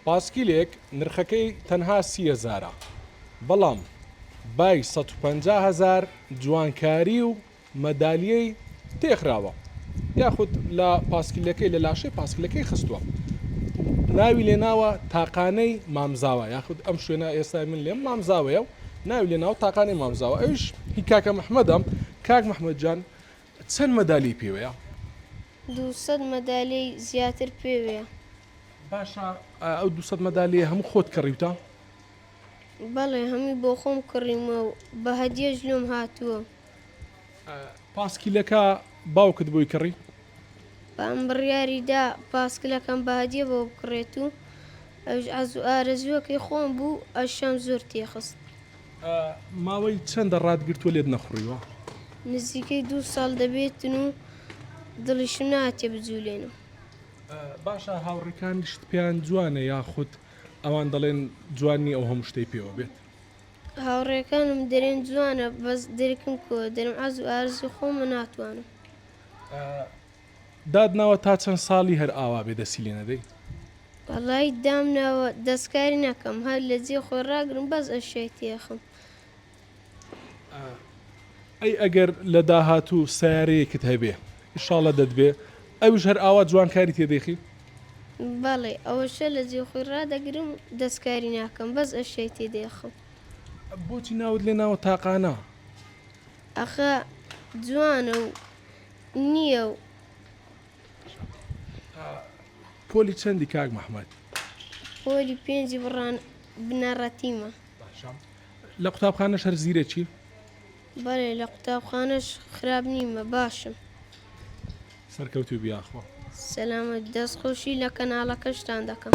پاسکیلێک نرخەکەی تەنها سی هەزارە بەڵام بای سەد و پەنجا هەزار جوانکاری و مەدالیەی پێخراوە یاخود لە پاسکیلەکەی لە لاشەی پاسکیلەکەی خستوە و ناوی لێناوە تاقانەی مامزاوا یاخود ئەم شوێنە ئێستای من لێم مامزاوەیە و ناوی لێناوە تاقانەی مامزاوا ئەویش هی کاکە محمەدە کاک محمەد جان چەند مەدالیەی پێوەیە؟ دوو سەد مەدالیەی زیاتر پێوەیە. باشە ئەو دوو سەد مەدالیەیە هەموو خۆت کڕیوتە؟ بەڵێ هەمووی بۆ خۆم کڕیومە و بە هەدیەش لۆم هاتووە. پاسکیلەکە باوکت بۆی کڕی؟ بام بڕیاری دا پاسکلەکەم بە هەدیە بۆ بکڕێت و ئەویش عەزوو ئارەزووەکەی خۆم بوو ئەشیام زۆر تێخست. ماوەی چەندە ڕات گرتووە لێت نەخوڕیوە؟ نزیکەی دوو ساڵ دەبێتن و دڵیشم ناتێ بجولێنم. باشە هاوڕیکانیشت پێیان جوانە یاخود ئەوان دەڵێن جوان نی ئەو هەموو شتەی پێوە بێت؟ هاوڕێکانم دەرێن جوانە بەس درکم کۆ دەرم عەزو ئارزوی خۆمە ناتوانم. دات ناوە تا چەند سالی هەر ئاوا بێ دەسی لێ نەدەی. وەڵایی دام ناوە دەسکاری ناکەم هەر لە جێ خۆی ڕاگرم بەس ئەشیای تێخم. ئەی ئەگەر لە داهاتوو سەیارەیەکت هەبێ ئیشاڵە دەتبێ ئەوش هەر ئاوا جوان کاری تێ دەیخی؟ بەڵێ ئەوەشە لە جێ خۆی ڕادەگرم دەسکاری ناکەم بەس ئەشیای تێ دەیخم. بۆچی ناوت لێ ناوە تاقانە؟ ئەخە جوانە و. نیە و. پۆلی چەندی کاک محمد؟ پۆلی پێنجی بڕان بنەڕەتیمە. باشە لە قوتابخانەش هەر زیرەکی؟ بەێ لە قوتابخانەش خراپ نیمە باشم. سەرکەوتوو بیاخۆ. سەلامە دەست خۆشی لە کەناڵەکەشتان دەکەم.